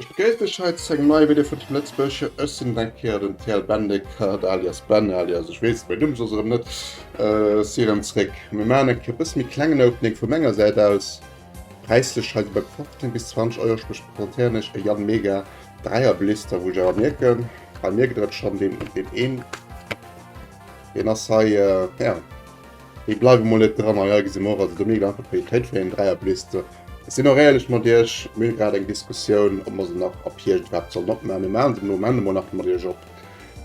Ech begréiss dech hei zu engem neie Video vun Team Lëtzebuerg. Jo, ech sinn et eng Kéier, den TL Bendegkert alias Ben alias ech weess mäin Numm soss erëm net. Si erëm zréck. Mir maachen eng Kéier e bësse méi klengen Opening vu menger Säit aus. Präislech hei esou bei 15 bis 20 Euro, sprech presentéieren ech e Jan Mega Dräier Blister, wou ech awer mierken, bei mir gëtt et schonn deen een, deen ass hei, jo. Mir bleiwe mol net dran a ja, gesi mer och, also do méi einfach Qualitéit fir eng Dräierblister. Ech sinn och éierlech mat iech, mir hu grad eng Diskussioun, ob mer se nach ab Hierscht iwwerhaapt sollen opmachen. Mir maache se fir de Moment emol nach mat iech op,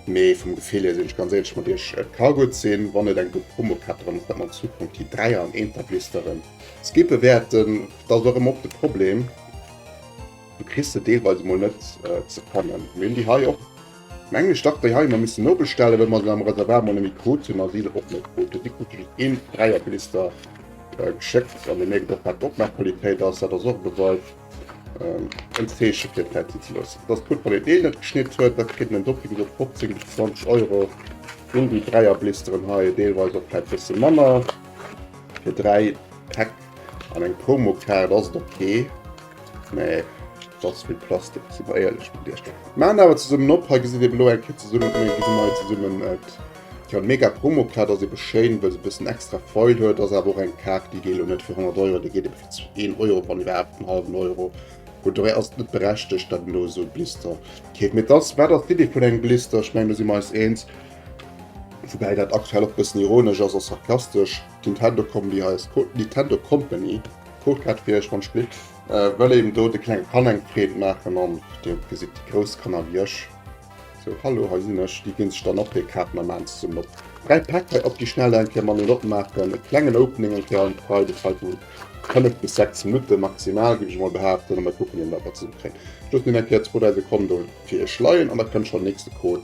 mee vum Gefill hier sinn ech ganz éierlech mat iech, et ka gutt sinn, wann et eng gutt Promo kritt, datt mer dann an Zukunft déi Dräier an Eenterblisteren skippe wäerten. Dat ass och ëmmer och de Problem, du kriss se deelweis emol net ze fannen. Mir hunn déi hei och. Mengen ech dach déi hei mer missen nobestellen well mer se am Reservat mol net méi krut hunn a si se och net krut hunn. Si krute just een Dräier Blister geschéckt an dir mierkt och wat d'Opmaaqualitéit ass. Dat ass och e Beweis, en Zeeche fir d'Zäit si ze loossen. Et ass gutt wann een deen net geschnitt huet, da kritt en en doppelt esou 15 bis 20 Euro ginn déi Dräier Blisteren hei, deelweis och vläit bësse manner. Fir 3 Päck an eng Promokaart ass et ok. Nee, dat ass vill Plastik, si mer éierlech mat Iech. Mer maachen awer zesummen op, hei gesitt ee elo eng Kéier zesummen, hei gesitt ee mei zesummen et. Tjo, mega Promo, d'Kaart ass ebe schéin, wëll se e bëssen extra Foil huet, ass awer och eng Kaart, déi geet elo net fir 100 Euro, déi geet ebe fir een Euro, wann iwwerhaapt en hallwen Euro. Bon, d'Oreille ass net berechtegt, datt een do esou e Blister keeft, mee et ass, wat ass d'Iddi vun engem Blister? Ech mengen, do si mer eis eens, woubäi dat aktuell och e bëssen ironesch ass a sarkastesch, d'Nintendo Combi hei ass, Nintendo Company. D'Fruchtblatt fir iech mam Splitt. Wëll eben do de klenge Kanner eng Freed maachen an deen op gesit déi grouss Kanner wéi ech sou Hallo hei sinn ech. Déi ginn sech dann och hir Kaarten a maan zesummen op. 3 Päck hei op déi schnell eng Kéier manuel opmaachen. E klengen Opening eng Kéier an d'Frei-de hei vu 5 bis 6 Minutten maximal géif ech emol behaapten a mer kucken eben wat mer zesummen kréien. Loossen een eng Kéier zwou, dräi Sekonne do fir iech leien an da kënnt schonn nächste Code.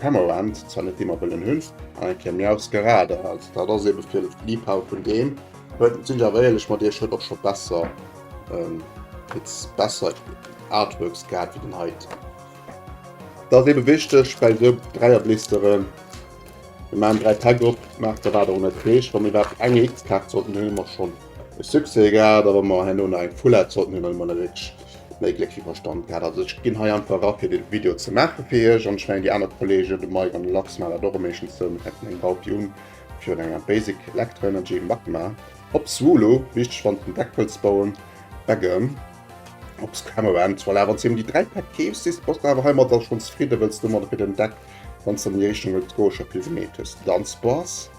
Permanent zwar net immer wëllen hunn, an eng Kéier Miaus geraden ass. Dat ass eben fir Liebhaber vun deem huet, sinn ech awer éierlech mat iech, huet och scho besser Pits, besser Artworks gehat wéi den heiten. Dat ass eben wichteg bei esou Dräierblisteren, mir maachen 3 Päck op, maacht der wat der wëllt. Dat heescht wa mir iwwerhaapt eng EX-Kaart sollten hunn, hu mer schonn e Succès gehat, a wa mer herno nach eng Full Art sollten hunn, dann hu mer wierklech. méi Gléck wéi Verstand gehat. Also ech ginn hei einfach era fir de Video ze maache fir iech an ech mengen déi aner Kollegen, de Mike an de Lachs maachen dat och am meeschtens sou. Mir hätten eng Baupi un virun enger Basic Electro Energy Magma op Swolo, wichteg wann s den Deck wëlls bauen, Begem op Scammer End. Voilà, wann s dir em déi 3 Päck keefs, sichs bass de awer heimat da schonn zefridden, wëlls de domadder fir den Deck, wann s an déi Richtung wëlls goe, scho vill gemeet hues. Dann s bass.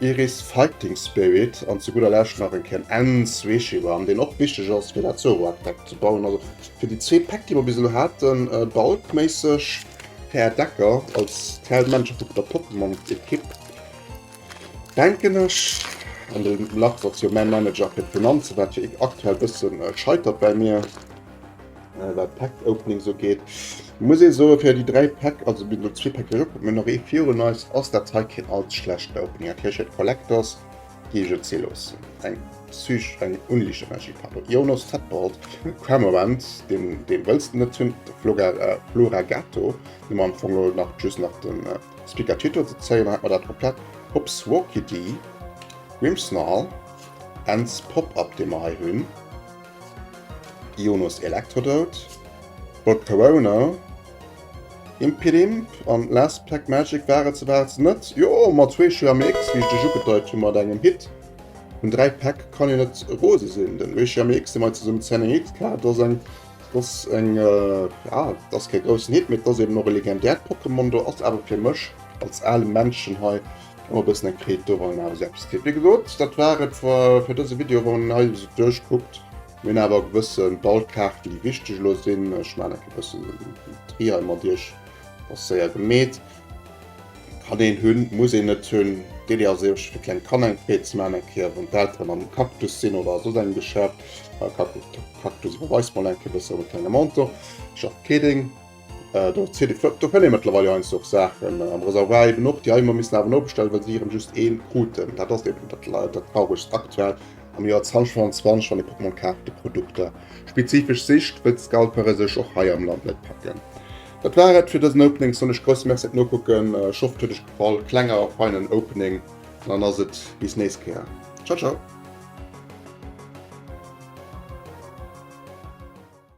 Iris Fighting Spirit an zu gudder Lescht nach en Ken Ends Weeshiwan, deen och wichteg ass fir dat Zoroark Deck ze bauen. Also fir déi zwee Päck déi mer bis elo haten, bulkméisseg, Här Decker als d'Hell Männercher vun der Pokémon Ekipp, denken ech, an de Lachs ass jo mäi Manager fir d'Finanzen, wat jo aktuell e bësse scheitert bei mir, Äh, wat Pack Opening so geht. Muss ich so für die drei Pack, also mit nur zwei Pack kommt mir noch eh vier und neues aus der Zeit kein als schlecht Opening. Okay, ich hätte Collectors, die ich jetzt hier los. Ein Psych, ein unlicher Magie Papa. Jonas Tadbold, Cramorant, den, den willst du nicht tun, Flora, äh, Flora Gatto, den man von Lord nach just nach den äh, Speaker Titel zu zeigen hat, oder komplett Hops Walkie D, Grimsnarl, Ends Pop-Up, den wir hier haben. Ionos Electrodote, Bot Corona, Impidimp an Last Black Magic war et souwäerts net. Jo, mat zwee Shreamics, wéi ech dech ugedeit hu mat engem Hit vun 3 Päck, kann een net rose sinn. Den zwee Shreamics, déi mer hei zesummen zénngekritt hu, dat ass eng, dat ass eng, ja, dat ass kee groussen Hit, mee dat ass eeben och e legendäert Pokémon do, ass awer fir mech als ale Männchen hei Hu e bëssen eng Kreet doran awer selbst tippe gesot. Dat war et fir dëse Video wann een hei esou duerchkuckt. Mir hunn awer gewësse Ballkaarten déi wichteg elo sinn. Ech maachen enke bëssen den Tri hei mat iech, ass séier gemeet. Kann een hunn, muss een net hunn. D'Iddi ass iech fir kleng Kanner eng Freed ze maachen, eng Kéier wann d'Elteren am Cactus sinn oder a soss engem Geschäft. Cactus iwwerweist mol enke bëssen op e klenge Montant, schafft kee Ding. Äh, do zitt et do kënne mëttlerweil jo heiansdo och Saachen am Reservoir eben och, déi hei ëmmer missen awer nobestellen, well se ieren just ee kruten. Dat ass eben dat Lei dat Trauregst aktuell am Joer 2025, wann ee Pokémon kaaft, déi Produkter spezifesch sicht, wëll d'Scalpere sech och hei am Land net packen. Dat war et fir dësen Opening, soen ech grousse Merci fir d'Nokucken, ech hofft et huet iech gefall, kleng awer feinen Opening an dann ass et bis nächst Kéier. Ciao ciao!